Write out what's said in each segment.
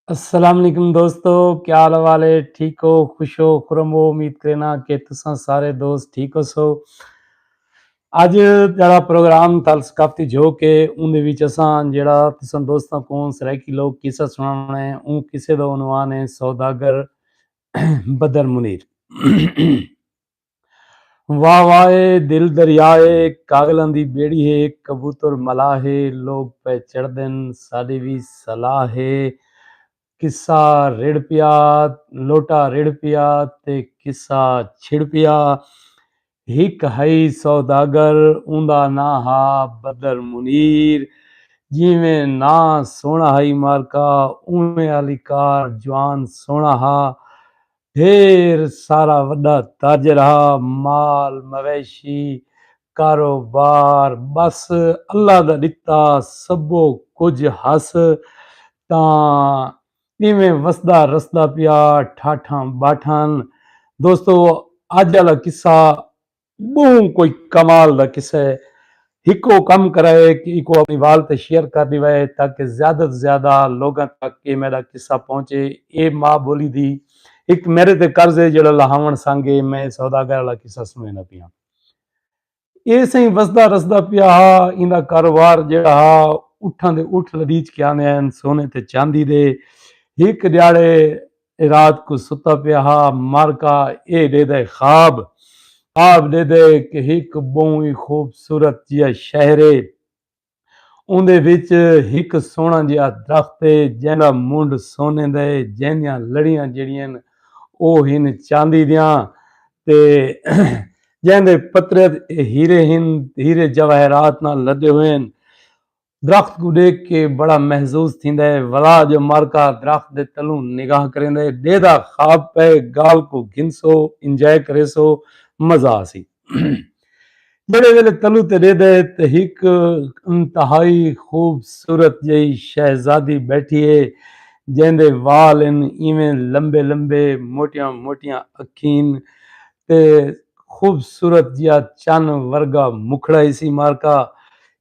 السلام علیکم دوستو کیا حال والے ٹھیک ہو خوش ہو خرم ہو امید کرنا کہ تساں سارے دوست ٹھیک ہو سو اج جڑا پروگرام تال ثقافتی جو کے اون دے وچ اساں جڑا تساں دوستاں کو سرائیکی لوگ قصہ سناونا ہے اون قصے دا عنوان ہے سوداگر بدر منیر واہ واہ اے دل دریا اے کاغلاں دی بیڑی ہے کبوتر ملاح ہے لوگ پئے چڑھدن ساڈی وی صلاح ہے قصہ رڑھ پیا لوٹا رڑھ پیا تے قصہ چھڑ پیا ہک ہئی سوداگر اوندا ناں ہا بدر منیر جیویں ناں سوہنڑا ہئی مارکہ اونویں آلی کار جوان سوہنڑا ہا ڈھیر سارا وݙا تاجر ہا، مال مویشی، کاروبار ٻس اللہ دا ݙتا سبھو کجھ ہس تاں اینویں وسدا رسدا پیا ٹھاٹھاں ٻاٹھاں۔ دوستو اڄ آلا قصہ بہوں کوئی کمال دا قصہ ہے ہکو کم کرائے کہ ایکو اپنی وال تے شیئر کر ڈیوائے تاکہ زیادہ توں زیادہ لوگاں تک اے میڈا قصہ پہنچے اے ما بولی دی ہک میرے تے قرض ہے جیڑا لہاون سانگے میں سوداگر آلا قصہ سنوینا پیاں اے سئیں وسدا رسدا پیا ہا ایندا کاروبار جیڑا ہا اٹھاں دے اٹھ لڈیچ کے آندے ہن سونے تے چاندی دے ہک ڈیاڑے اے رات کوں ستا پیا ہا مر کا اے ڈیدے خواب خواب ڈیدے کہ ہک بہوں ای خوبصورت جیا شہر اے اوندے وچ ہک سوہنا جیا درخت اے جیندا منڈھ سونے دا اے جیندیاں لڑیاں جیڑھین او ہن چاندی دیاں تے جیندے پترت اے ہیرے ہن ہیرے جواہرات نال لدے ہوئے ہن درخت کوں ݙیکھ کے بڑا محظوظ تھیندا ہے ولا جو مارکا درخت دے تلوں نگاہ کریندا ہے ݙیہدا خواب پئے ڳال کوں گھنسو انجوائے کریسو مزہ آسی جیڑھے ویلے تلوں تے ݙیہدا ہے تے ہک انتہائی خوبصورت جئی شہزادی بیٹھی ہے جیندے وال ہن ایویں لمبے لمبے موٹیاں موٹیاں اکھین تے خوبصورت جیا چن ورگا مکھڑا ہسی مارکا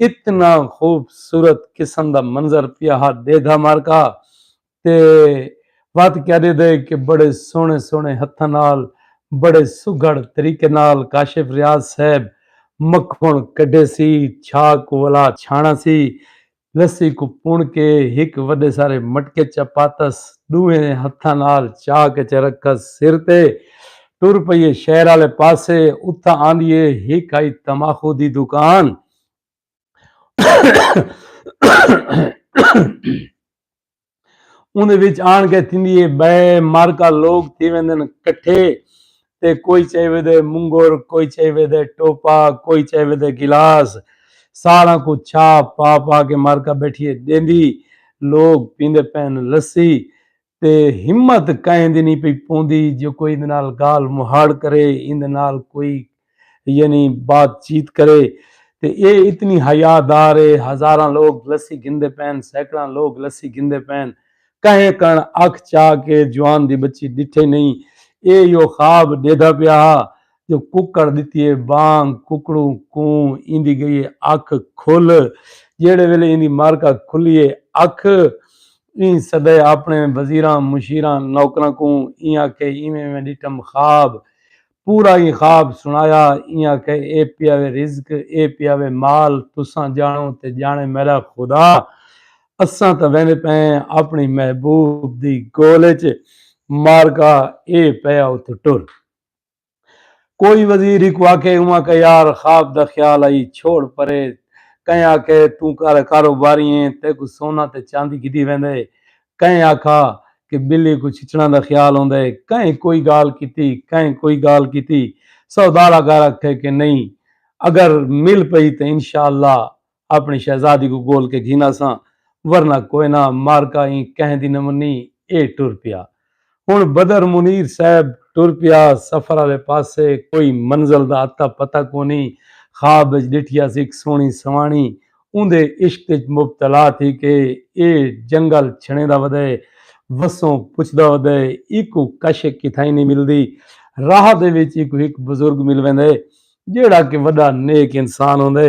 اتنا خوبصورت قسم دا منظر پیا ہا ڈیدھا مارکا تے وت کیا ڈیدھے کہ بڑے سونے سونے ہتھاں نال بڑے سگھڑ طریقے نال کاشف ریاض صاحب مکھن کڈھے سی چھا کو ولا چھانا سی لسی کو پن کے ہک وڈے سارے مٹکے چا پاتس ڈوہیں ہتھاں نال چا کے چا رکھس سر تے ٹر پئیے شہر آلے پاسے اتھاں آندیے ہک ہائی تماخو دی دکان اوندے وچ آن کے تھیندیے بے مارکا لوگ تھی ویندن کٹھے تے کوئی چاہی ویدے منگر کوئی چاہی ویدے ٹوپا کوئی چاہی ویدے گلاس ساراں کو چھا پا پا کے مارکا بیٹھیے دیندی لوگ پیندے پین لسی تے ہمت کہیں دی نی پئی پوندی جو کوئی ایندے نال گالھ مہاڑ کرے ایندے نال کوئی یعنی بات چیت کرے تے اے اتنی حیا دار اے ہزاراں لوگ لسی گھندے پئن سیکڑاں لوگ لسی گھندے پئن کہیں کن اکھ چا کے جوان دی بچی ڈٹھے نئیں اے یو خواب ڈیدھا پیا ہا جو ککڑ ݙتی اے ٻانگ ککڑوں کوں ایندی ڳئی اے اکھ کھل جیڑھے ویلے ایندی معرکہ کھلی اے اکھ ایں سݙائے آپݨے وزیراں مشیراں نوکراں کوں ایں آکھے ایویں ایویں ݙٹھم خواب پورا ایں خواب سݨایا ایں آکھے اے پیا وے رزق اے پیا وے مال تساں ڄاݨو تے ڄاݨے میݙا خدا اساں تاں ویندے پئے ہیں آپݨی محبوب دی ڳول اچ معرکہ اے پئے آ اتھوں ٹر کوئی وزیر ہکو آکھے اوہاں کا یار خواب دا خیال ہئی چھوڑ پرے کہیں آکھے توں کر کاروباری ایں تیکوں سونا تے چاندی گھدی ویندے کہیں آکھا کہ بلی کوں چھچڑاں دا خیال ہوندے کہیں کوئی گالھ کیتی کہیں کوئی گالھ کیتی سودھارا گھر اکھے کہ نئیں اگر مل پئی تے انشاءاللہ اپݨی شہزادی کوں ڳول کے گھن آساں ورنہ کوئے نہ معرکہ ایں کہیں دی نمنی اے ٹر پیا ہݨ بدر منیر صاحب ٹر پیا سفر آلے پاسے کوئی منزل دا اتا پتہ کونی خواب اچ ݙٹھیا سیک سوہݨی سواݨی اوندے عشق اچ مبتلا تھی کے اے جنگل چھݨیندا ودئے وسوں پچھدا ودئے ایکوں کش کتھائیں نی ملدی راہ دے وچ ایکوں ہک بزرگ مل ویندے جیڑھا کے وݙا نیک انسان ہوندے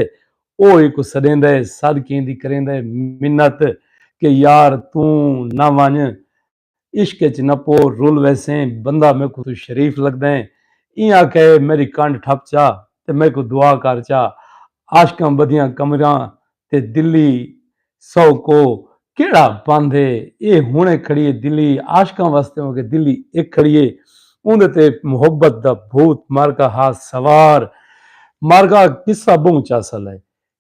او ایکوں سݙیندا ہے سد کے ایندی کریندا ہے منت کہ یار توں نہ ونڄ عشق اچ نہ پو رل ویسیں بندہ میکوں توں شریف لڳدیں ایں آکھے میݙی کنڈ ٹھپ چا تے میکوں دعا کر چا عاشقاں ٻدھیاں کمراں تے دلی سو کو کیڑا بند ہے اے ہنڑے کھڑیے دلی عاشقاں واسطے ہوں کہ دلی اک کھڑیے اوندے تے محبت دا بھوت مارکا ہا سوار مارکا قصہ بہوں چاسل ہے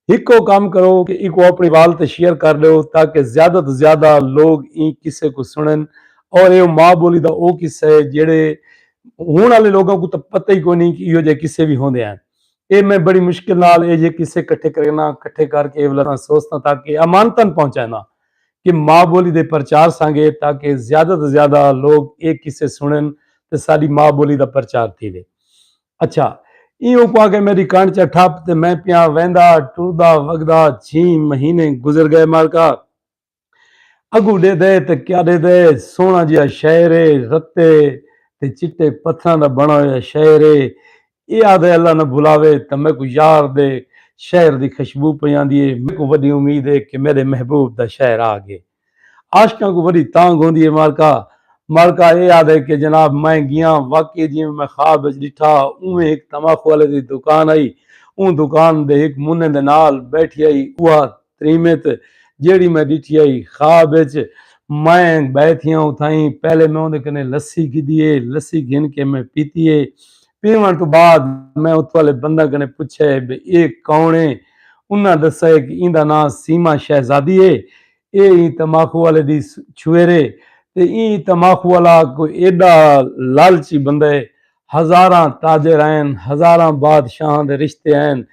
ہکو کم کرو کہ ایکو اپنی وال تے شیئر کر ڈیو تاکہ زیادہ تو زیادہ لوگ ایں قصے کو سنن اور ایو ماں بولی دا او قصہ ہے جیڑھے ہن آلے لوگاں کو تاں پتہ ہی کوئی نہیں کہ ایہو جے قصے وی ہوندے ہیں اے میں بڑی مشکل نال اے جے قصے کٹھے کرگناں، کٹھے کر کے ایولا تاں سوستاں تاکہ امانتاً پہنچائناں کہ ماء بولی دے پرچار سانگے تاکہ زیادہ توں زیادہ لوگ اے قصے سنڑن تے ساڈی ماء بولی دا پرچار تھیوے۔ اچھا ایں اوکوں آکھے میڈی کنڑ چا ٹھپ تے میں پیاں ویندا ٹردا وگدا چھیں مہینے گزر گئے مالکا۔ اگوں ݙیہدے تاں کیا ݙیہدے سوہݨا جیہا شہر اے رتے تے چٹے پتھراں دا بݨا ہویا شہر اے اے آہدے اللہ نہ بھلاوے تاں میکوں یار دے شہر دی خشبو پئی آندی اے میکوں وݙی امید اے کہ میݙے محبوب دا شہر آ ڳئے عاشقاں کوں وݙی تانگھ ہوندی اے مالکا مالکا اے آہدے کہ جناب میں ڳیاں واقعی جیویں میں خواب وچ ݙٹھا اونویں ہک تماخو آلے دی دکان ہئی اوں دکان دے ہک منہ دے نال ٻیٹھی ہئی اوہا تریمت جیڑھی میں ڈٹھی ہئی خواب اچ میں بئے تھیاں اتھائیں پہلے میں اوندے کنے لسی گھدی ہے لسی گھن کے میں پیتی ہے پیون تو بعد میں اتھوں والے بندہ کنے پچھا ہے بے اے کون ہے انہاں دسا ہے کہ ایندا ناں سیما شہزادی ہے اے ایں تماخو والے دی چھویرے تے ایں تماخو والا کوئی ایڈا لالچی بندہ ہے ہزاراں تاجر ہین، ہزاراں بادشاہاں دے رشتے ہین،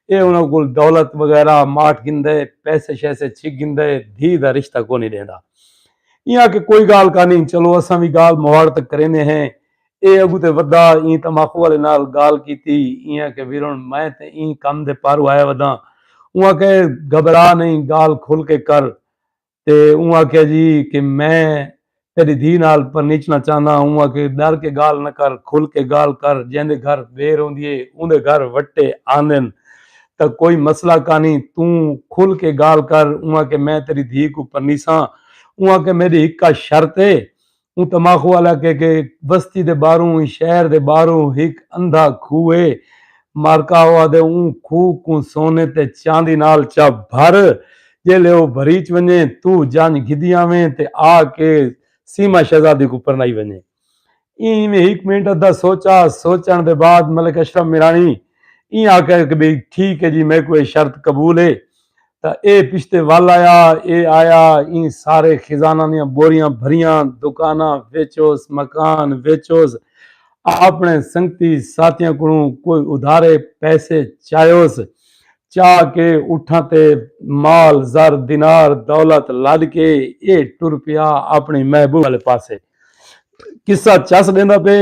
ایہ انہاں کول دولت وغیرہ ماٹ گھندے، پیسے شیسے چھک گھندے، دھی دا رشتہ کونی ڈیندا۔ ایں آکھے کوئی گالھ کانہی، چلو اساں وی گالھ مواڑ تاں کریندے ہیں۔ ایہ اگوں تے ودھا، ایں تماخو والے نال گالھ کیتی، ایں آکھے ویرن میں تے ایں کم دے پاروں آیا وداں۔ اوں آکھے گھبرا نئیں، گالھ کھل کے کر، تے اوں آکھیا جی کہ میں تیڈی دھی نال پرنیچنا چاہنداں اوں آکھے ڈر کے گالھ نہ کر کھل کے گالھ کر جیندے گھر دیر ہوندی اے اوندے گھر وٹے آندن تاں کوئی مسئلہ کانی توں کھل کے گالھ کر اوں آکھے میں تیڈی دھی کوں پرنیساں اوں آکھے میڈی ہکا شرط اے اوں تماخو علاقے کے بستی دے باہروں شہر دے باہروں ہک اندھا کھوہ ہے۔ مارکا ہوا دے اوں کھوہ کوں سونے تے چاندی نال چا بھر۔ جیلے او بھریچ ونجے تو جانج گھدی آویں تے آ کے سیما شہزادی کوں پرنائی ونجے۔ ایں میں ہک منٹ ادھا سوچا۔ سوچن دے بعد ملک اشرف میرانی ایں آکھیا کہ بھئی ٹھیک ہے جی میکوں اے شرط قبول ہے۔ تا اے پشتے ول آیا اے آیا ایں سارے خزانہ دیاں بوریاں بھریاں دکاناں ویچوس مکان ویچوس آپنے سنگتی ساتھیاں کولوں کوئی ادھارے پیسے چایوس چا کے اٹھاں تے مال زر دینار دولت لد کے اے ٹر پیا اپنی محبوب والے پاسے قصہ چس ڈیندا پے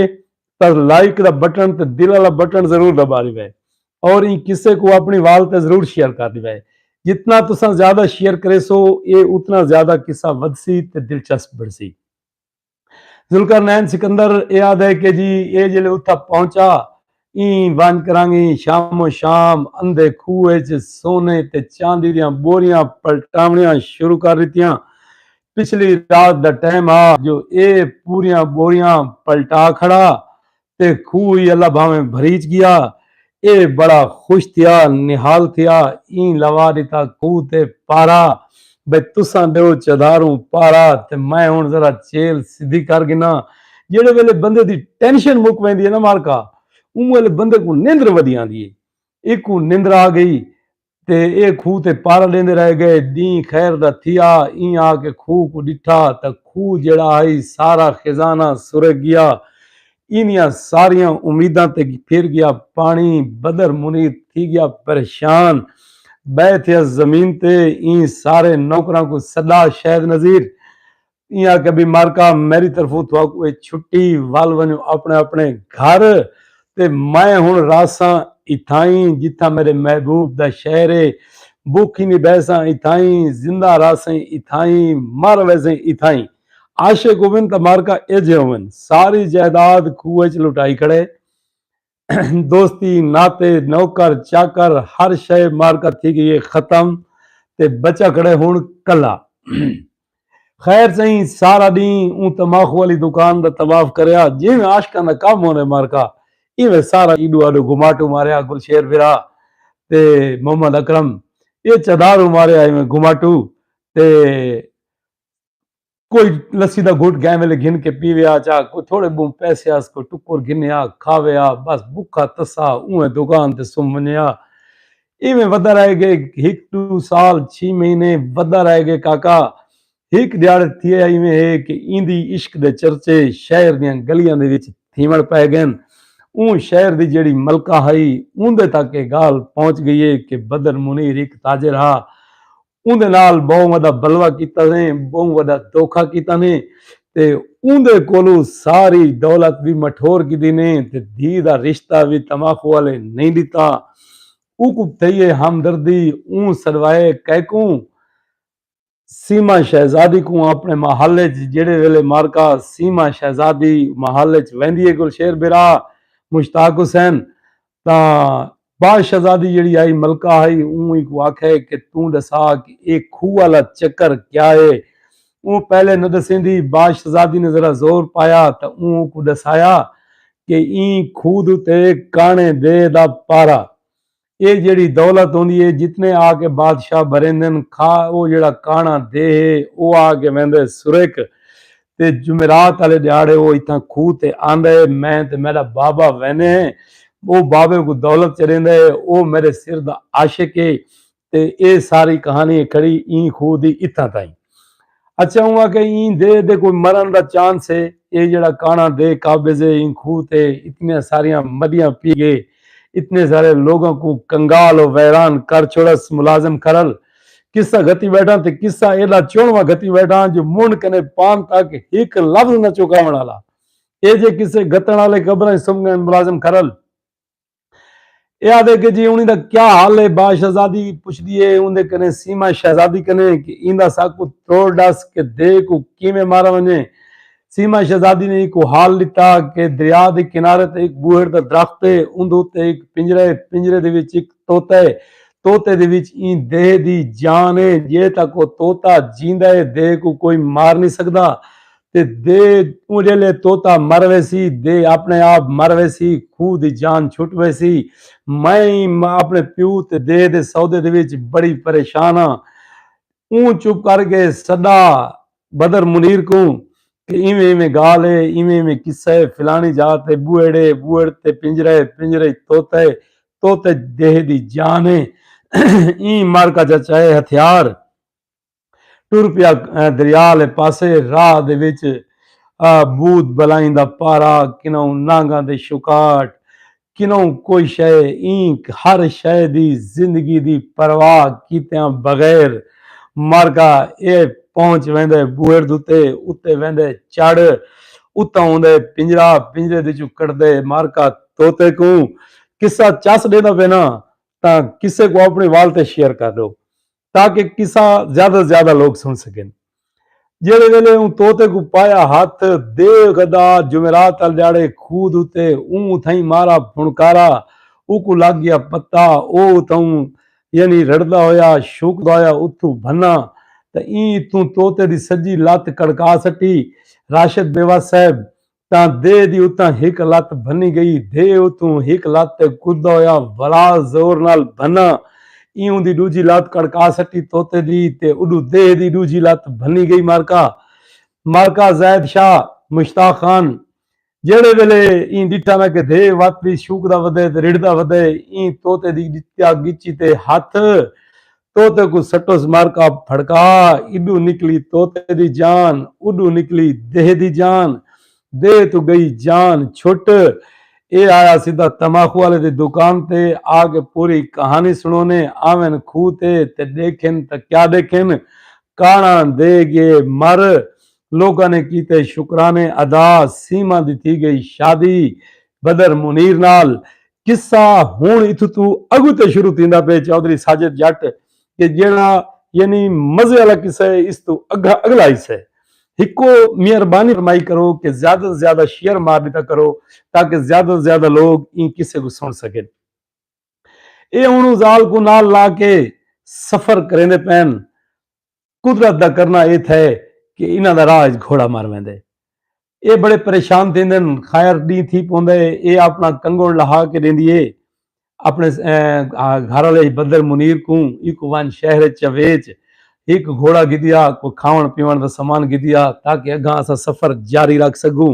پر لائک دا بٹن تے دل والا بٹن ضرور دبا لیوے اور ایں قصے کوں اپنی وال تے ضرور شیئر کر ݙیوے۔ جتنا تساں زیادہ شیئر کریسو اے اتنا زیادہ قصہ ودھسی تے دلچسپ بݨسی۔ ذوالقرنین سکندر اے آہدے کہ جی اے جیلے اتھاں پہنچا ایں ونج کرانگی شام و شام اندھے کھوہ اچ سونے تے چاندی دیاں ٻوریاں پلٹاوݨیاں شروع کر ݙتیاں۔ پچھلی رات دا ٹائم ہا جو اے پوریاں ٻوریاں پلٹا کھڑا تے کھوہ ای اللہ بھانویں بھریچ گیا اے بڑا خوش تھیا نہال تھیا ایں لوا ڈتا کھوہ تے پارا بھئی تساں ڈیو چداروں پارا تے میں ہن ذرا چیل سدھی کر گھنا جیڑھے ویلے بندے دی ٹینشن مک ویندی اے نا مالکا اوں ویلے بندے کوں نندر ودی آندی اے ایکوں نندر آ گئی تے ایہ کھوہ تے پارا ݙیندے رہ ڳئے۔ ݙینہہ خیر دا تھیا۔ ایں آ کے کھوہ کوں ݙٹھا تاں کھوہ جیڑھا ہئی سارا خزانہ سرک ڳیا۔ ایندیاں ساریاں امیداں تے پھر ڳیا پاݨی۔ بدر منیر تھی ڳیا پریشان۔ ٻہہ تھیا زمین تے ایں سارے نوکراں کوں سݙا شہد نذیر ایاں آکھیا بی مارکا میری طرفوں تہاکوں اے چھٹی ول ونجو اپنے اپنے گھر تے میں ہن رہساں اتھائیں جتھاں میرے محبوب دا شہر اے بوکھی نی بہساں اتھائیں زندہ رہسیں اتھائیں مر ویسیں اتھائیں عاشق ہوون تاں مارکا ایجھے ہوون ساری جائیداد کھوہ اچ لٹائی کھڑے دوستی ناتے نوکر چاکر ہر شے مارکا تھی گئی ہے ختم تے بچا کھڑے ہون کلا خیر سہی سارا دین اون تماخو والی دکان دا طواف کریا جی میں عاشقاں دا کم ہونے مارکا ایویں سارا ایڈو آڈو گھماٹو ماریا گل شیر بھرا تے محمد اکرم یہ چدارو ماریا ایویں گھماٹو تے کوئی لسی دا گھٹ گئے ویلے گھن کے پیوے آ چا کوئی تھوڑے بہوں پیسے آس کوئی ٹکر گھنے آ کھاوے آ بس بکھا تسا اوہ دکان تے سم ونجے آ ایویں ودا رہ گئے ہک دو سال چھی مہینے ودا رہ گئے کاکا ہک دیاڑ تھی ایویں ہے کہ ایندی عشق دے چرچے شہر دیاں گلیاں دے وچ تھیوڑ پہ گئے اون شہر دی جیڑی ملکہ ہائی اون دے تک یہ گال پہنچ گئی ہے کہ بدر منیر ایک تاجر ہا اوندے نال بہوں وڈا بلوا کیتا سے بہوں وڈا دوکھا کیتا نے تے اوندے کولو ساری دولت وی مٹھور کیتی نے تے دھی دا رشتہ وی تماخو آلے نئیں ڈتا اوکوں تھئی اے ہمدردی اوں سڈوائے کئکوں سیما شہزادی کوں اپنے محل اچ جیڑھے ویلے معرکہ سیما شہزادی محل اچ ویندی اے گلشیر برا مشتاق حسین تاں بعد شہزادی جیڑھی آئی ملکہ ہئی اوں اینکوں آکھے کہ توں ڈسا کہ اے کھوہ آلا چکر کیا اے۔ اوں پہلے نہ ڈسیندی۔ بعد شہزادی نے ذرا زور پایا تاں اوں اونکوں ڈسایا کہ ایں کھوہ دے اتے کانڑے دے دا پارا اے جیڑھی دولت ہوندی اے جتنے آ کے بادشاہ بھریندن کھا او جیڑھا کانڑا دے ہے او آ کے ویندے سرک تے جمعرات آلے ݙیہاڑے او اتھاں کھوہ تے آندا ہے، میں تے میݙا بابا ویندے ہیں، او بابے کوں دولت چڑھیندا ہے، او میݙے سر دا عاشق ہے تے اے ساری کہاݨی ہے کھڑی ایں کھوہ دی اتھاں تائیں۔ اچھا اوں آکھیا ایں دے دے کوئی مرݨ دا چانس ہے، اے جیڑھا کاݨاں دے قابض ہے ایں کھوہ تے اتنیاں ساریاں مݙیاں پی ڳئے، اتنے سارے لوگاں کوں کنگال و ویران کر چھوڑس، ملازم کھرل۔ قصہ گھتی بیٹھاں تے قصہ ایڈا چونواں گھتی بیٹھاں جو منڈ کنے پان تک ہک لفظ نہ چوکاون والا اے جے قصے گھتن والے قبراں وچ سم گئن ملازم کھرل اے آدھے کہ جی انہی دا کیا حال ہے با شہزادی پچھدی ہے اوندے کنے سیما شہزادی کنے کہ ایندا ساکو توڑ ڈس کہ دے کو کیویں مارا ونجے سیما شہزادی نے ایکوں حال ݙتا کہ دریا دے کنارے تے ہک بوہڑ دا درخت ہے، اوندے اتے ہک پنجرہ ہے، پنجرے دے وچ ہک طوطا ہے، طوطے دے وچ ایں دیہہ دی جان ہے، جے تک او طوطا جیندا ہے دیہہ کوں کوئی مار نئیں سڳدا تے دیہہ اوں جیلھے طوطا مر ویسی دیہہ آپݨے آپ مر ویسی، خوہ دی جان چھٹ ویسی، میں ایں آپݨے پیو تے دیہہ دے سودے دے وچ بڑی پریشان ہاں، اوں چپ کر کے سݙا بدر منیر کوں کہ ایویں ایویں گالھ اے، ایویں ایویں قصہ اے، فلانی جاء تے بوہڑ اے، بوہڑ تے پنجرہ اے، پنجرہ اچ طوطا اے، طوطے اچ دیہے دی جان اے۔ ایں معرکہ چا چائے ہتھیار ٹر پیا دریا آلے پاسے، راہ دے وچ بھوت بلائیں دا پارا، کنوں نانگاں دے شکاٹ، کنوں کوئی شئے اینک ہر شئے دی زندگی دی پرواہ کیتیاں بغیر مرگا اے پہنچ ویندے بوہڑ دتے اتے ویندے چڑھ اتوں اوندے پنجرا پنجرے دے چوں کڈھدے مرگا توتے کوں قصہ چس ڈیندا پینا تاں کسے کوں اپنی وال تے شیئر کر ڈو تاکہ قصہ زیادہ توں زیادہ لوک سن سکن۔ جیڑھے ویلے اوں طوطے کوں پایا ہتھ دے غدا جمعرات آلے ڈیہاڑے کھوہ دے اتے اوں اتھائیں مارا پھنکارا اوکوں لگ گیا پتہ او اتھائوں یعنی رڑھدا ہویا شوکدا ہویا اتھوں بھنا تاں ایں اتھوں طوطے دی سجی لت کڑکا سٹی۔ راشد بیوس صاحب تاں دے دی اتاں ہک لت بھنی گئی۔ دے اتوں ہک لت تے کدا ہویا ولا زور نال بھنا ایوں دی ڈوجھی لت کڑکا سٹی طوطے دی تے اڈو دے دی ڈوجھی لت بھنی گئی معرکہ معرکہ زید شاہ مشتاق خان جیڑھے ویلے ایں ڈٹھا نہ کہ دے وت وی شوکدا ودے تے رڑھدا ودے ایں طوطے دی ڈتیا گچی تے ہتھ طوطے کوں سٹوس مارکا پھڑکا ایڈو نکلی طوطے دی جان اوڈو نکلی دیہہ دی جان دیہہ توں گئی جان چھٹ اے آیا سدھا تماخو آلے دی دکان تے آ کے پوری کہانی سنونے آون کھو تے تے ڈیکھن تاں کیا ڈیکھن کاڑاں دے گئے مر لوکاں نے کیتے شکرانے ادا سیما دی تھی گئی شادی بدر منیر نال قصہ ہن اتھوں توں اگوں تے شروع تھیندا پئے چوہدری ساجد جٹ کہ جیہڑا یعنی مزے آلا قصہ ہے اس توں اگھا اگلا حصہ ہے ہکو مہربانی فرمائی کرو کہ زیادہ توں زیادہ شیئر مار ݙتا کرو تاکہ زیادہ توں زیادہ لوگ ایں قصے کوں سݨ سڳن اے ہن او ذال کوں نال لا کے سفر کریندے پئن قدرت دا کرنا اے تھئے کہ انہاں دا راہ اچ گھوڑا مر ویندے۔ اے بڑے پریشان تھیندن۔ خیر ڈینہہ تھی پوندا اے۔ اے آپنڑاں کنگنڑ لہا کے ڈیندی اے۔ آپنڑے گھر آلے بدر منیر کوں ایکوں ونج شہر اچ یا ویچ۔ ہک گھوڑا گھدیا۔ کوئی کھاونڑ پیونڑ دا سامان گھدیا تاکہ اگاں اساں سفر جاری رکھ سگوں۔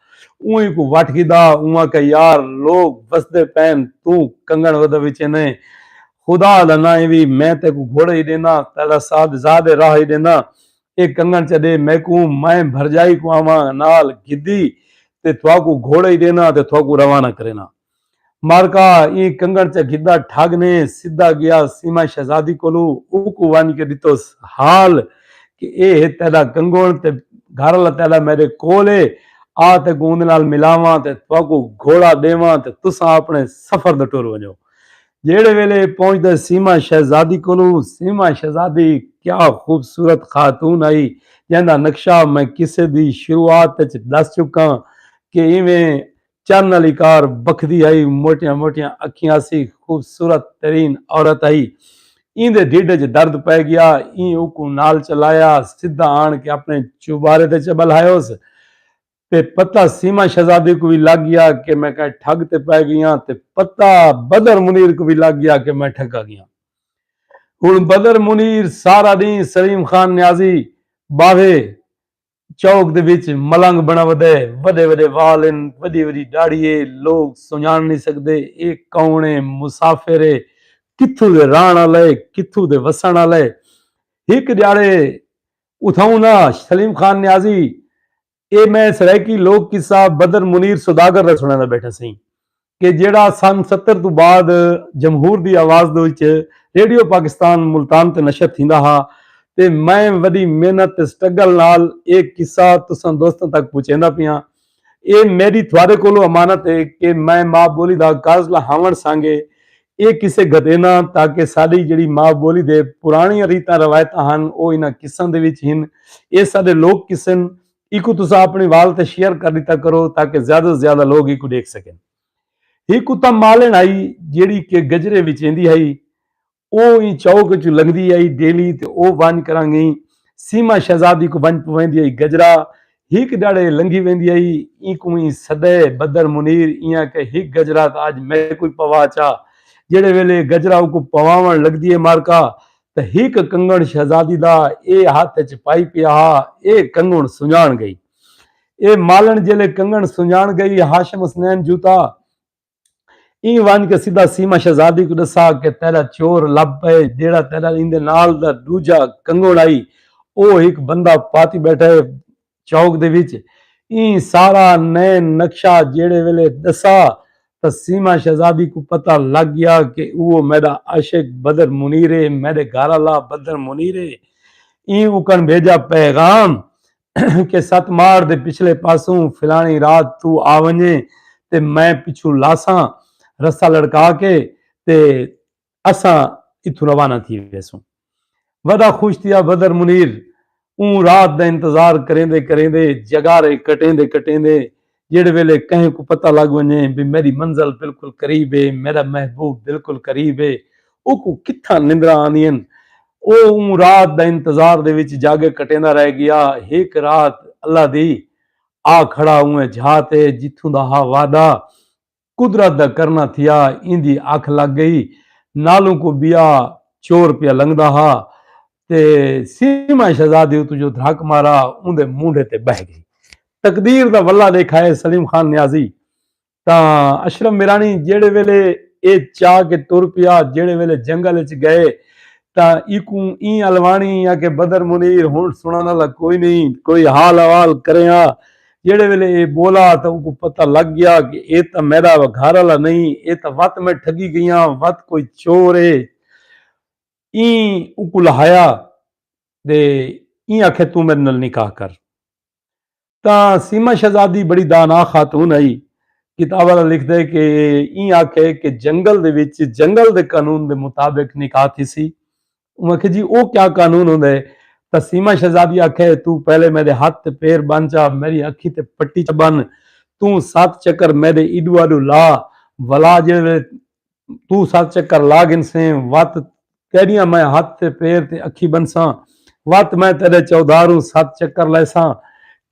اونہی کوں وٹھ گھدا اوں آکھیا یار لوک وسدے پین توں کنگن ودھا وچے نئیں خدا دا ناں ایوی میں تیکوں گھوڑا ہی ڈینداں تیڈا ساتھ زادے راہ ہی ڈینداں اے کنگن چا ڈے میکوں میں بھرجائی کوں آواں نال گھدی تے تھاکوں گھوڑا ہی ڈینداں تے تھاکوں روانہ کرینداں۔ مارکا ایں کنگن چا گھدا ٹھگ نے سدھا گیا سیما شہزادی کولو اوکوں ونج کے ڈتوس حال کہ اے ہے تیڈا کنگن تے گھر آلا تیڈا میڈے کول ہے آ تیکوں اوندے نال ملاواں تے تہاکوں گھوڑا ڈیواں تے تساں اپنے سفر دا ٹر ونجو جیڈے ویلے اے پہنچدے سیما شہزادی کولو سیما شہزادی کیا خوبصورت خاتون ہئی جیندا نقشہ میں قصے دی شروعات اچ ڈس چکاں کہ ایویں چن آلی کار بکھدی ہئی، موٹیاں موٹیاں اکھیاں سی، خوبصورت ترین عورت ہئی۔ ایندے ڈھڈ اچ درد پئے گیا، ایں اوکوں نال چلایا، سدھا آن کے اپنے چوبارے تے چہ بلہائیوس۔ تے پتہ سیما شہزادی کوں وی لگ گیا کہ میں کہیں ٹھگ تے پئے گیاں تے پتہ بدر منیر کوں وی لگ گیا کہ میں ٹھگا گیاں۔ ہن بدر منیر سارا ڈینہہ سلیم خان نیازی باوھے چوک دے وچ ملنگ بݨا ودے۔ وݙے وݙے وال ہن، وݙی وݙی ݙاڑھی ہے، لوک سنڄاݨ نی سڳدے اے کون ہے، مسافر ہے، کتھوں دے رہݨ آلا ہے، کتھوں دے وسݨ آلا ہے۔ ہک ݙیہاڑے اتھاؤں ناں سلیم خان نیازی اے میں سرائیکی لوک قصہ بدر منیر سوداگر دا سݨیندا ٻیٹھا سئیں۔ کہ جیڑھا سن ستر توں بعد جمہور دی آواز دے وچ ریڈیو پاکستان ملتان تے نشر تھیندا ہا تے میں وݙی محنت تے سٹرگل نال اے قصہ تساں دوستاں تک پہنچیندا پیاں۔ اے میݙی تھوارے کولوں امانت ہے کہ میں ماء ٻولی دا کاضلہ ہاوݨ سانگے اے قصے گھتیناں تاکہ ساݙی جیڑھی ماء ٻولی دے پراݨیاں ریتاں روایتاں ہن او انہاں قصاں دے وچ ہن۔ اے ساݙے لوک قصے ہن ایکوں تساں اپنڑیں وال تے شیئر کر ڈتا کرو تاکہ زیادہ توں زیادہ لوگ ایکوں ڈیکھ سکن۔ ہک کتا مالنڑ ہئی جیڑھی کہ گجرے وچ ایندی ہئی۔ او ایں چوک اچوں لنگھدی ہئی ڈیلی تے او ونج کرنگ ایں سیما شہزادی کوں ونج پویندی ہئی گجرا ہک ڈڑ اے لنگھی ویندی ہئی اینکوں ایں سدے بدر منیر ایاں کہ ہک گجرا تاں اج میکوں وی پوا چا جیڑھے ویلے گجرا اوکوں پواونڑ لگدی اے مارکا تے ہک کنگݨ شہزادی دا اے ہتھ اچ پائی پیا ہا اے کنگݨ سنڄاݨ ڳئی اے مالݨ جیلے کنگݨ سنڄاݨ ڳئی ہاشم حسنین جوتا ایں ونڄ کے سدھا سیما شہزادی کوں ݙسا کہ تیݙا چور لب پئے جیڑھا تیݙا ایندے نال دا ݙوجھا کنگݨ ہئی او ہک بندہ پاتی ٻیٹھا اے چوک دے وچ ایں سارا نئیں نقشہ جیڑھے ویلے ڈسا تاں سیما شہزادی کوں پتہ لگ گیا کہ اوہ میڈا عاشق بدر منیر اے میڈے گھر آلا بدر منیر اے ایں اوکن بھیجا پیغام کہ ست ماڑ دے پچھلے پاسوں فلانی رات تو آ ونجیں تے میں پچھوں لاساں رستہ لڑکا کے تے اساں اتھوں روانہ تھی ویسوں۔ ودا خوش تھیا بدر منیر اوں رات دا انتظار کریندے کریندے جگارے کٹیندے کٹیندے جیڑھے ویلے کہیں کوں پتہ لگ ونجے بھئی میڈی منزل بالکل قریب اے میڈا محبوب بالکل قریب اے اوکوں کتھاں نندراں آندین او اوں رات دا انتظار دے وچ جاگے کٹیندا رہ گیا ہک رات اللہ دی آ کھڑا اوں جھا تے جتھوں دا ہا وعدہ قدرت دا کرنا تھیا ایندی اکھ لگ گئی نالوں کوں بیا چور پیا لنگدا ہا تے سیما شہزادی اتوں جو دھرک مارا اوندے مونڈھے تے بہہ گئی تقدیر دا ولا ڈیکھا ہے سلیم خان نیازی تاں اشرف میرانی جیڑے ویلے اے چا کے ٹر پیا جیڑے ویلے جنگل اچ گئے تاں ایکوں ایں الوانی یا کہ بدر منیر ہن سنڑن والا کوئی نہیں کوئی حال احوال کریاں جیڑھے ویلے اے بولا تاں اونکوں پتہ لگ گیا کہ اے تاں میڈا گھر آلا نئیں اے تاں وت میں ٹھگی گئیاں وت کوئی چور اے ایں اونکوں لہایا دے ایں آکھیا توں میڈے نال نکاح کر تاں سیما شہزادی بڑی دانا خاتون ہئی کتاب آلا لکھدے کہ ایں آکھے کہ جنگل دے وچ جنگل دے قانون دے مطابق نکاح تھیسی انہوں آکھیا جی او کیا قانون ہوندا ہے تاں سیما شہزادی آکھیا ہے توں پہلے میڈے ہتھ تے پیر بن چا میڈی اکھی تے پٹی چا بن توں ست چکر میڈے ایڈو آڈو لا ولا جیڑے ویلے توں ست چکر لا گھنسیں وت تیڈیاں میں ہتھ تے پیر تے اکھی بنساں وت میں تیڈے چودھاروں ست چکر لیساں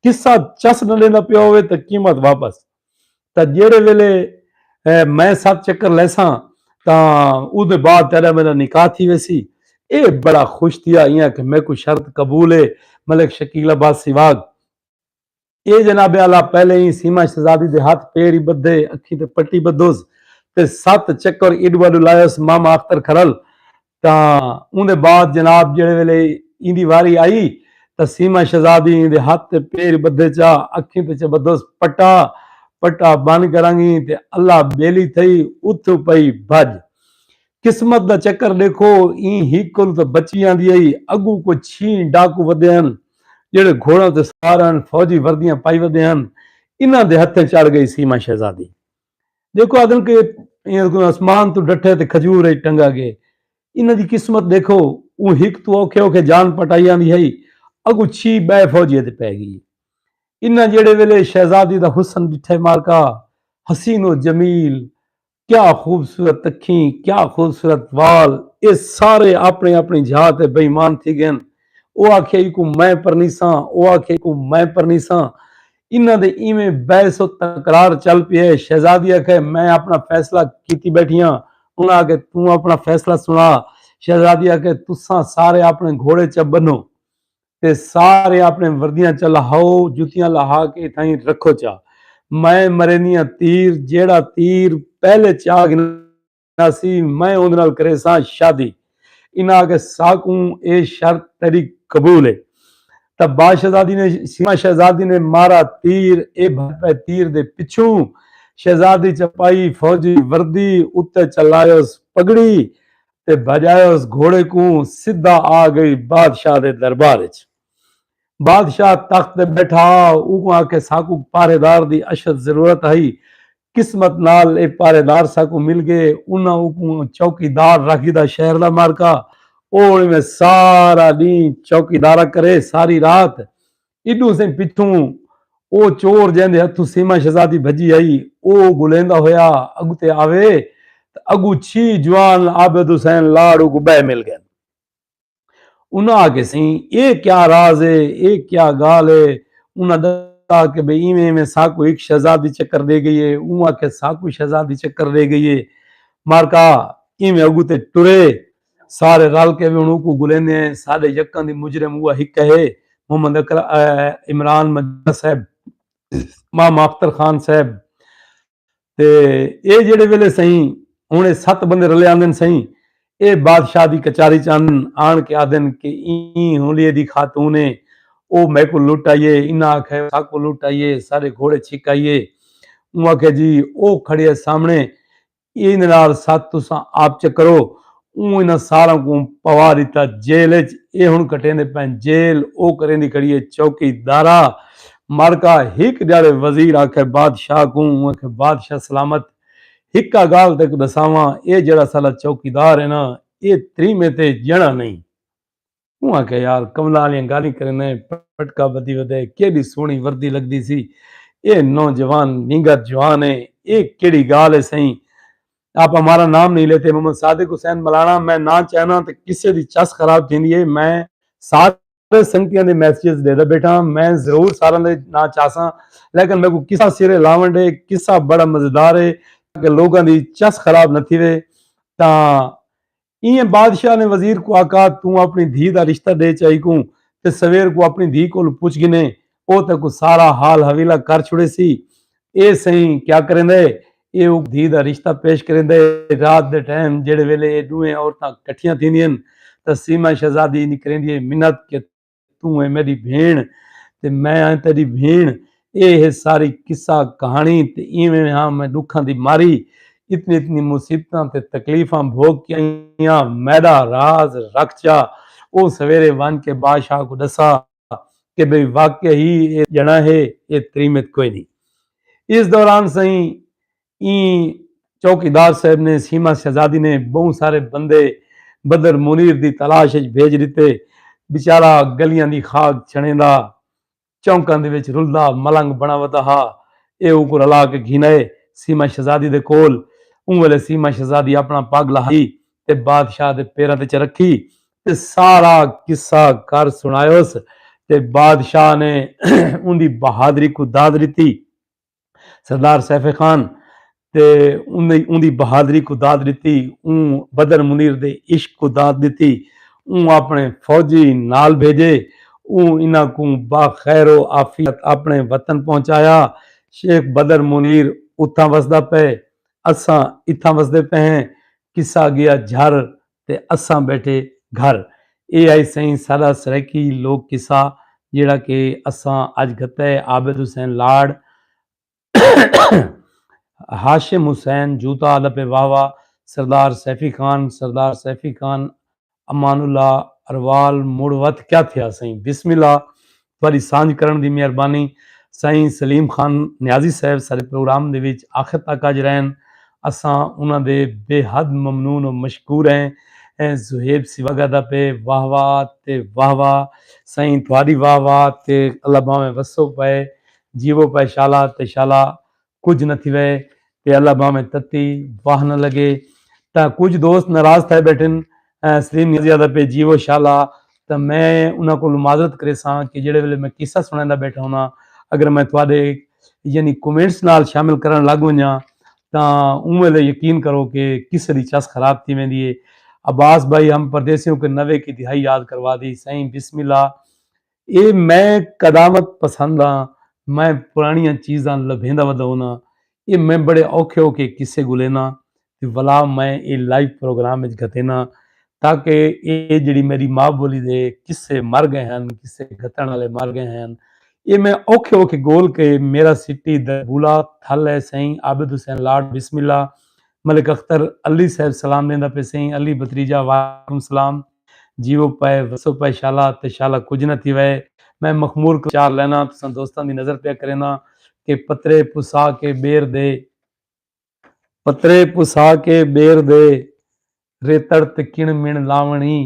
قصہ چس نہ ڈیندا پیا ہووے تاں قیمت واپس تاں جیڑھے ویلے میں ست چکر لیساں تاں اودے بعد تیڈا میڈا نکاح تھی ویسی۔ ایہ بڑا خوش تھیا ای آکھیا میکوں شرط قبول ہے۔ ملک شکیل عباس سیواگ اے جناب اعلی پہلے ای سیما شہزادی دے ہتھ پیر ای بدھے اکھیں تے پٹی بدھوس تے ست چکر ایڈو آڈو لایوس ماما اختر کھرل تاں اوندے بعد جناب جیڑھے ویلے ایندی واری آئی تاں سیما شہزادی ایندے ہتھ تے پیر بدھے چا اکھیں تے چبدھس پٹا پٹا بن کرنگیں تے اللہ بیلی تھئی اتھوں پئی بھج۔ قسمت دا چکر ڈیکھو ایں ہک کولوں تاں بچی آندی ہئی اگوں کوئی چھیں ڈاکو ودھے ہن جیڑھے گھوڑاں تے سوار ہن فوجی وردیاں پائی ودھے ہن انہاں دے ہتھیں چڑھ گئی سیما شہزادی۔ دیکھو آدھن کہ اسمان تو ڈٹھے تے کھجور ہے ٹنگا گے انہاں دی قسمت دیکھو وہ ہک تو اوکھے اوکھے جان پٹائیاں دی ہے اگو چھی بے فوجی تے پہ گئی انہاں جڑے ویلے شہزادی دا حسن ڈٹھے مارکا حسین و جمیل کیا خوبصورت تکھیں کیا خوبصورت وال اے سارے اپنے اپنی جھا تے بے ایمان تھی گئن او آکھے کو میں پرنیساں او آکھے کو میں پرنیساں انہاں دے ایویں بحث و تکرار چل پئے شہزادی آکھے میں اپنا فیصلہ کیتی بیٹھی ہاں انہاں آکھے توں اپنا فیصلہ سنا شہزادی آکھے تساں سارے اپنے گھوڑے چا بنو تے سارے اپنے وردیاں چا لہاؤ جتیاں لہا کے اتھائیں رکھو چا میں مرینیاں تیر جیڑا تیر پہلے چا گنا اسی میں اوندے نال کریساں شادی۔ انہاں آکھیا ساکوں اے شرط تیڈی قبول اے۔ تاں با شہزادی نے سیما شہزادی نے مارا تیر اے بھج پئے تیر دے پچھوں شہزادی چا پائی فوجی وردی اتے چا لائیوس پگڑی تے بھجایوس گھوڑے کوں سدھا آ گئی بادشاہ دے دربار اچ۔ بادشاہ تخت تے بیٹھا اوکوں آکھیا ساکوں پہرے دار دی اشد ضرورت ہئی قسمت نال اے پہرے دار ساکوں مل گئے۔ انہاں اوکوں چوکی دار رکھ گھدا شہر دا مارکا او ہن میں سارا ڈینہہ چوکی دارا کرے ساری رات ایڈوں سئیں پچھوں او چور جیندے ہتھوں سیما شہزادی بھجی آئی او گلیندا ہویا اگتے آوے تاں اگوں چھی جوان عابد حسین لاڑ اوکوں بئے مل گئن۔ انہاں آکھیا سئیں اے کیا راز اے اے کیا گالھ اے انہاں دسا کہ بھئی ایویں ایویں ساکوں ہک شہزادی چکر ڈے گئی اے اوں آکھیا ساکوں شہزادی چکر ڈے گئی اے مارکا ایویں اگو تے ٹرے سارے رل کے ہن اوکوں گلیندے ہیں ساڈے یکاں دی مجرم اوہ ہک ہے محمد عمران مجرم صاحب ماما اختر خان صاحب تے ایہ جیڑھے ویلے سئیں ہن ایہ ست بندے رلے آندن سئیں ایہ بادشاہ دی کچاری چ آندن آن کے آدھن کہ ایں ہنلیے دی خاتون اے او میکوں لٹ آئی اے انہاں آکھیا ساکوں لٹ آئی اے ساڈے گھوڑے چھک آئی اے اوں آکھیا جی او کھڑی اے سامنے ایندے نال ست تساں آپ چکرو اوں انہاں ساراں کوں پوا ڈتا جیل اچ اے ہن کٹیندے پئن جیل او کریندی کھڑی اے چوکی دارا مارکا ہک جاڑے وزیر آکھے بادشاہ کوں اوں آکھے بادشاہ سلامت ہکا گال تیکوں ڈساواں اے جیڑا سالا چوکی دار اے نا اے تریمے تے جنڑا نئیں اوں آکھیا یار کملا آلیاں گالھیں کریندے پٹکا بدھی ودے کیڈی سوہنی وردی لگدی سی اے نوجوان نینگا جوان اے اے کیڈی گالھ اے سئیں آپ ہمارا نام نہیں لیتے محمد صادق حسین ملانا میں نہ چاہناں تے کسے دی چس خراب تھیندی اے میں سارے سنگتیاں دے میسجز ڈیدا بیٹھاں میں ضرور ساراں دے نہ چاساں لیکن میکوں قصہ سرے لاون ڈے قصہ بڑا مزیدار اے تاکہ لوگاں دی چس خراب نہ تھیوے تاں ایئں بادشاہ نے وزیر کوں آکھا توں اپݨی دھی دا رشتہ ݙے چائی کوں تے سویر کوں اپݨی دھی کولوں پچھ گھنے او تیکوں سارا حال حویلہ کر چھوڑیسی۔ اے سئیں کیا کریندا ہے؟ اے اوں دھی دا رشتہ پیش کریندا ہے۔ رات دے ٹائم جیڑھے ویلے اے ݙوہیں عورتاں کٹھیاں تھیندین تاں سیما شہزادی نکریندی ہے منت کہ توں اے میڈی بھیݨ تے میں آں تیڈی بھیݨ اے ہے ساری قصہ کہاݨی تے ایویں ہاں میں ڈکھاں دی ماری اتنی اتنی مصیبتاں تے تکلیفاں بھوگ کے آئیاں میڈا راز رکھ چا او سویرے ونج کے بادشاہ کو ڈسا کہ بھئی واقعی ہی اے جنا ہے اے تریمت کوئی نہیں اس دوران سئیں ایں چوکیدار صاحب نے سیما شہزادی نے بہوں سارے بندے بدر منیر دی تلاش اچ بھیج ڈتے۔ بیچارہ گلیاں دی خاک چھنڑیندا، چونکاں دے وچ رلدا ملنگ بنڑا ودا ہا۔ ایہ اونکوں رلا کے گھن آئے سیما شہزادی دے کول۔ اوں ویلے سیما شہزادی اپنڑا پگ لہائی تے بادشاہ دے پیراں تے چا رکھی تے سارا قصہ کر سنڑایوس تے بادشاہ نے اوندی بہادری کوں داد ڈتی۔ سردار سیف خان تے اوں دی بہادری کو داد ڈتی اوں بدر منیر دے عشق کو داد ڈتی اوں اپنے فوجی نال بھیجے اوں انہاں کوں با خیر و عافیت اپنے وطن پہنچایا شیخ بدر منیر اتھاں وسدا پئے اساں اتھاں وسدے پئے ہیں قصہ گیا جھر تے اساں ٻیٹھے گھر۔ اے ہئی سئیں ساݙا سرائیکی لوک قصہ جیڑھا کہ اساں اڄ گھتا ہے عابد حسین لاڑ ہاشم حسین جوتا آلا پئے واہ واہ سردار سیفی خان سردار سیفی خان امان اللہ اروال مڑ وت کیا تھیا سئیں بسم اللہ تہاڈی سانجھ کرن دی مہربانی سائیں سلیم خان نیازی صاحب سارے پروگرام دے وچ آخر تک آج رہن اساں انہاں دے بے حد ممنون و مشکور ہیں زہیب سیوگا دا پے واہ واہ تے واہ واہ سائیں تہاڈی واہ واہ تے اللہ باویں وسو پائے جیوو پائے شالا تے شالا کچھ نہ تھوے تے اللہ باویں تتی واہ نہ لگے تاں کچھ دوست ناراض تھائے بیٹھن سلیم نے زیادہ پہ جیو شالا تاں میں انہاں کو معذرت کرے ساں کہ جڑے ویلے میں قصہ سنائندا بیٹھا ہونا اگر میں تواڈے یعنی کومنٹس نال شامل کرن لگ ونجا تاں اون ویلے یقین کرو کہ قصے دی چس خراب تھی ویندی ہے عباس بھائی ہم پردیسیوں کے نوے کی دہائی یاد کروا دی سائیں بسم اللہ اے میں قدامت پسند آں میں پرانڑیاں چیزاں لبھیندا ودا ہوناں اے میں بڑے اوکھے اوکھے قصے گھلینا تے ولا میں اے لائیو پروگرام اچ گھتینا تاکہ اے جیڑی میڈی ماء بولی دے قصے مر گئے ہن قصے گھتن والے مر گئے ہن اے میں اوکھے اوکھے گول کے میرا سٹی دربولا تھل اے سئیں عابد حسین لاڈ بسم اللہ ملک اختر علی صاحب سلام دیندا پے سئیں علی بتریجہ وعلیکم سلام جیو پئے وسو پئے شالا تے شالا کجھ نہ تھی وئے میں مخمور کوں چار لینا تساں دوستاں دی نظر پیا کرینا کہ پترے پسا کے بیر دے پترے پسا کے بیر دے ریتڑ تے کن مین لاونڑی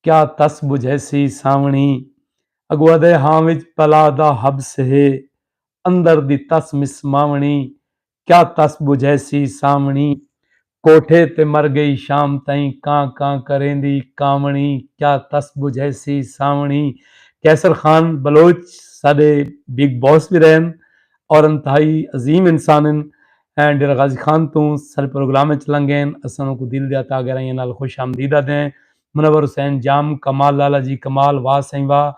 کیا تس بجھیسی ساونڑی اگو ادھے ہاں وچ پلا دا حبس ہے اندر دی تس مسماونڑی کیا تس ٻجھیسی سانوݨی۔ کوٹھے تے مر ڳئی شام تئیں کاں کاں کریندی کانوݨی کیا تس ٻجھیسی سانوݨی قیصر خان بلوچ ساݙے بگ باس وی رہن اور انتہائی عظیم انسان ہن ایں ڈیرہ غازی خان توں ساݙے پروگرام اچ لنگھین اساں انہاں کوں دل دیا تہ گہرائیاں نال خوش آمدید آدھیں منور حسین جام کمال لالا جی کمال واہ سئیں واہ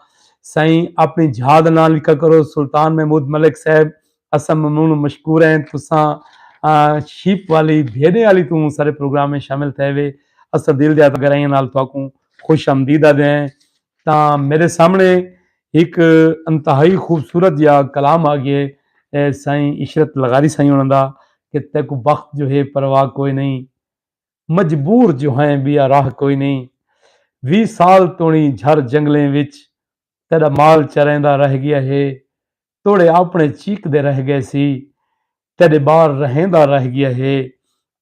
سئیں اپݨی جھا دا ناں لکھا کرو سلطان محمود ملک صاحب اساں ممنون و مشکور ہیں تساں شیپ والی بھیڈیں آلی توں سارے پروگرام میں شامل تھے وے اساں دل دیا گرائیاں نال تواکوں خوش آمدید آدھے ہیں تاں میرے سامنے ایک انتہائی خوبصورت یا کلام آگئے سائیں عشرت لغاری سائیں ہونا دا کہ تیکو بخت جو ہے پرواہ کوئی نہیں مجبور جو ہیں بیا راہ کوئی نہیں وی سال تونی جھر جنگلیں وچ تیرا مال چرائیں دا رہ گیا ہے توڑے آپنڑے چیکدے رہ گئے سی تیڈے بار رہیندا رہ گیا ہے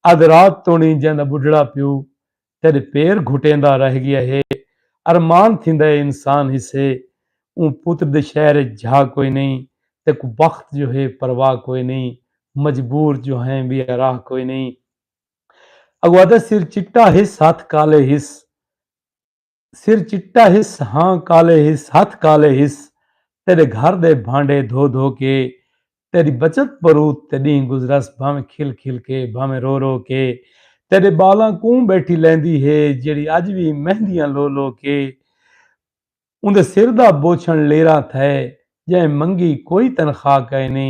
ادھ رات توڑیں جیندا بڈھڑا پیو تیڈے پیر گھٹیندا رہ گیا ہے ارمان تھیندا ہے انسان ہسے اوں پتر دے شہر اچ جھا کوئی نئیں تیکوں بخت جو ہے پرواہ کوئی نئیں مجبور جو ہیں بے راہ کوئی نئیں اگو آدھا سر چٹا ہس ہتھ کالے ہس۔ سر چٹا ہس ہاں کالے ہس ہتھ کالے ہس تیڈے گھر دے بھانڈے دھو دھو کے تیڈی بچت بروت تے ڈینہہ گزرس بھانویں کھل کھل کے بھانویں رو رو کے تیڈے بالاں کوں بیٹھی لیندی ہے جیڑھی اج وی مہندیاں لو لو کے اوندے سر دا بوچھن لیراں تھئے جئیں منگی کوئی تنخواہ کائنی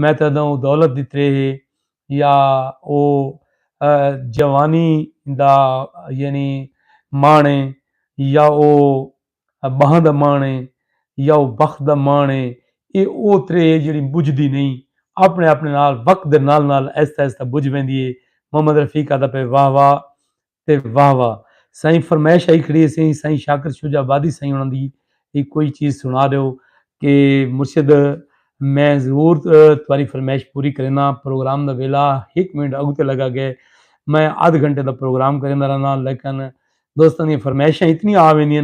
میں تاں ادھاں او دولت دی تریہہ ہے یا او جوانی دا یعنی ماݨ ہے یا او ٻہاں دا ماݨ ہے یا او بخت دا ماݨ ہے ایہ او تریہہ ہے جیڑھی ٻجھدی نئیں آپݨے آپݨے نال وقت دے نال نال آہستہ آہستہ ٻجھ ویندی ہے محمد رفیق آہدا پئے واہ واہ تے واہ واہ سائیں فرمائش آئی کھڑی سی سائیں شاکر شجاع آبادی سائیں انہاں دی ایک کوئی چیز سنا دیو کہ مرشد میں ضرور تمہاری فرمائش پوری کرینا پروگرام دا ویلا ایک منٹ اگو تے لگا گئے میں آدھ گھنٹے دا پروگرام کریندا رہنا لیکن دوستاں دی فرمائشاں اتنی آ ویندیاں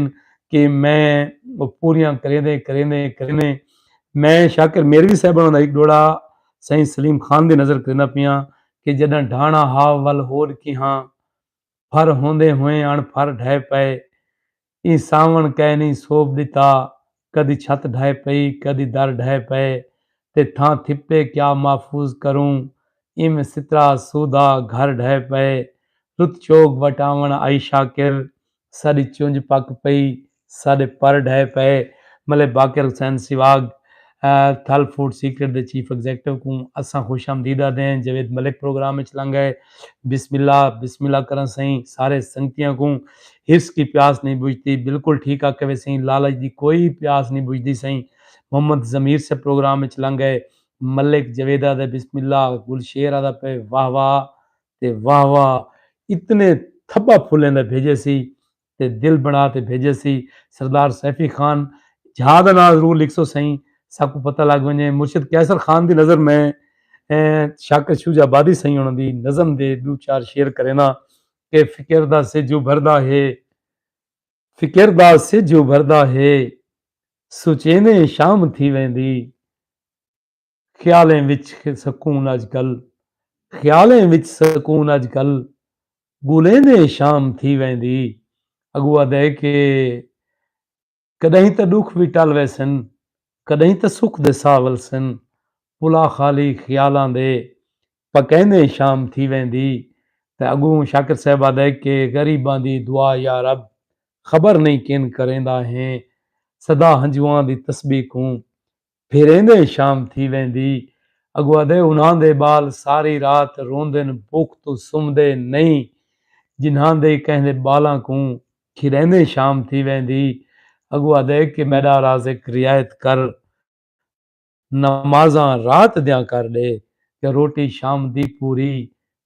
کہ میں وہ پوریاں کریندے کریندے کریندے میں شاکر میروی صاحب انہاں دا ایک ڈوڑا سائیں سلیم خان دی نظر کریندا پیاں کہ جݙاں ڈھاݨا ہا ول ہوݙ کیہاں پھر ہوندیں ہوئیں اݨ پھر ڈھہہ پئے۔ ایں ساوݨ کئے نئیں سوبھ ݙتا۔ کدی چھت ڈھہہ پئی کدی در ڈھہہ پئے تے تھاں تھپے کیا محفوظ کروں۔ اینویں سترا اسودھا گھر ڈھہہ پئے۔ رت چوگ وٹ آوݨ آئی شاکر ساݙی چنج پک پئی، ساݙے پر ڈھہے پئے، ملے باقر حسین سیواگ تھل فوڈ سیکرٹ دے چیف ایگزیکٹو کوں اساں خوش آمدید آہدیں، جاوید ملک پروگرام اچ لنگھ آئے، بسم اللہ، بسم اللہ کراں سئیں، سارے سنگتیاں کوں حرص کی پیاس نہیں بجھتی، بالکل ٹھیک آکھے وے سئیں، لالچ دی کوئی پیاس نہیں بجھدی سئیں، محمد ضمیر صاحب پروگرام اچ لنگھ آئے، ملک جاوید آہدے بسم اللہ، گل شیر آہدا پئے واہ واہ، تے واہ واہ اتنے تھبا پھلیں دا بھیجے سی تے دل بنا تے بھیجے سی سردار سیفی خان جھا دا ناں ضرور لکھ سو سئیں ساکوں پتہ لگ ونجے مرشد قیصر خان دی نظر میں شاکر شوجہ آبادی سئیں انہاں دی نظم دے دو چار شعر کرینا کہ فکر دا سج ابھردا ہے فکر دا سج ابھردا ہے سچینے شام تھی ویندی خیالیں وچ سکون اج کل۔ خیالیں وچ سکون اج کل۔ ڳولیندے شام تھی ویندی۔ اڳوں آہدے کہ کݙاہیں تاں ݙکھ وی ٹل ویسن۔ کݙاہیں تاں سکھ دے ساہ ولسن۔ پلا خالی خیالاں دے پکیندے شام تھی ویندی۔ تے اڳوں شاکر صاحب آہدے کہ غریباں دی دعا یارب خبر نئیں کن کریندا ہیں صدا ہنجواں دی تسبیح کوں پھر ایندے شام تھی ویندی۔ اگو آدھے انہاں دے ٻال ساری رات روندن بکھ توں سمدے نئیں جنہاں دے کہیں دے ٻالاں کوں کھیݙیندے شام تھی ویندی۔ اگو آدھے کہ میݙا رازق رعایت کر نمازاں رات دیاں کر ݙے تے روٹی شام دی پوری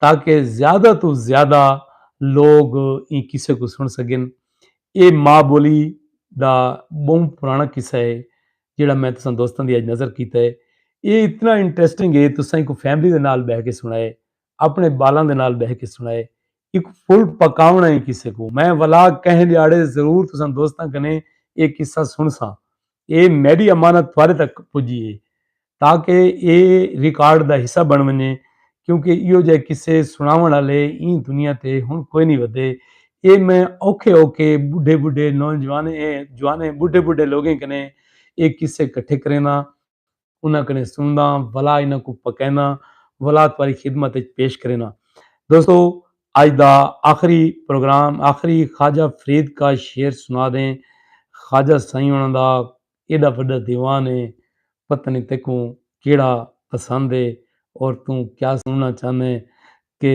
تاکہ زیادہ توں زیادہ لوگ ایں قصے کوں سݨ سڳن۔ ایہ ماء ٻولی دا ٻہوں پراݨا قصہ ہے جیڑھا میں تساں دوستاں دی اڄ نذر کیتا ہے۔ ایہ اتنا انٹریسٹنگ ہے تساں ایکوں فیملی دے نال ٻہہ کے سݨائے، اپݨے ٻالاں دے نال ٻہہ کے سݨائے۔ ایکوں فل پکاوݨا ایں قصے کوں۔ میں ولا کہیں ݙیہاڑے ضرور تساں دوستاں کنیں ایہ قصہ سݨساں۔ اے میڈی امانت تہاڈے تک پجی اے تاکہ اے ریکارڈ دا حصہ بن ونجے کیونکہ ایہو جہے قصے سناون آلے ایں دنیا تے ہن کوئی نی ودھے اے میں اوکھے اوکھے بڈھے بڈھے نوجوانیں جوانیں بڈھے بڈھے لوگیں کنیں اے قصے کٹھے کرینداں انہاں کنے سنڑداں ولا انہاں کو پکینداں ولا تواری خدمت اچ پیش کرینداں دوستو اج دا آخری پروگرام آخری خواجہ فرید کا شعر سنا دیں خواجہ سائیں انہاں دا ایڈا وڈا دیوان ہے پتہ نہیں تیکوں کیڑا پسند ہے اور توں کیا سننا چاہندے کہ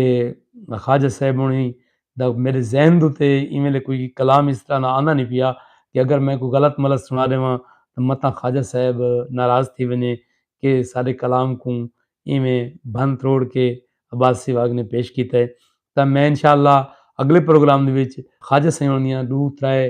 خواجہ صاحب انہی دا میڈے ذہن دے اتے ایں ویلے کوئی کلام اس طرح نا آندا نی پیا کہ اگر میں کوئی غلط ملط سنا ڈیواں تاں متاں خواجہ صاحب ناراض تھی ونجے کہ ساڈے کلام کوں ایویں بھن تروڑ کے عباس سیوھا اگنے پیش کیتا ہے تاں میں انشاءاللہ اگلے پروگرام دے وچ خواجہ سیوھاں دیاں ڈو ترے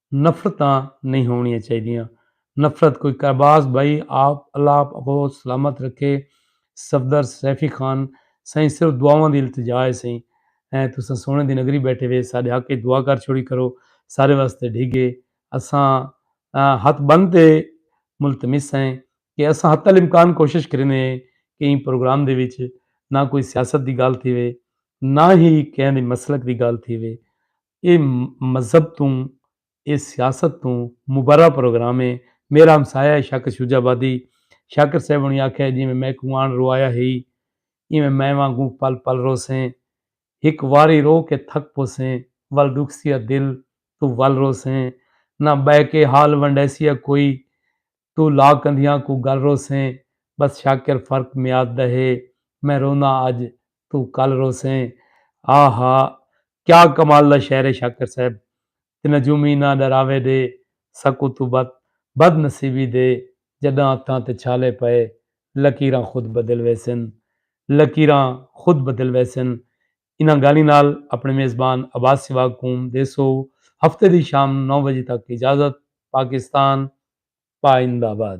نفرتاں نئیں ہووݨیاں چاہیدیاں، نفرت کوئی کائباس بھائی آپ اللہ آپ اکوں سلامت رکھے صفدر سیفی خان سائیں صرف دعاواں دی التجا ہے سائیں ایں تساں سونے دی نگری بیٹھے وے ساڈے حق اچ دعا کر چھوڑی کرو سارے واسطے ڈھگے اساں ہتھ بن تے ملتمس ہیں کہ اساں حتی الامکان کوشش کریندے ہیں کہ ایں پروگرام دے وچ نہ کوئی سیاست دی گال تھی وے نہ ہی کہیں دی مسلک دی گال تھی وے اے مذہب توں اے سیاست توں مبرا پروگرام اے۔ میرا ہمسایہ اے شاکر شجاع آبادی۔ شاکر صاحب ہوݨی آکھیا اے جیویں میکوں آن روایا ہئی ایویں میں وانگوں پل پل روسیں۔ ہک واری رو کے تھک پوسیں ول ݙکھسیا دل توں ول روسیں۔ نہ ٻہہ کے حال ونڈیسیا کوئی توں لا کندھیاں کوں گل روسیں بس شاکر فرق میاد دا ہے میں روناں اج توں کل روسیں آ ہا کیا کمال دا شعر ہے شاکر صاحب تے نجومی نہ ڈراوے دے سکوں توں بت بد نصیبی دے جڈاں اتھاں تے چھالے پئے لکیراں خود بدل ویسن لکیراں خود بدل ویسن انہاں گالھیں نال اپݨے میزبان عباس سواڳ کوں ݙیسو ہفتے دی شام نو وڄے تک اجازت پاکستان پاہندہ آباد۔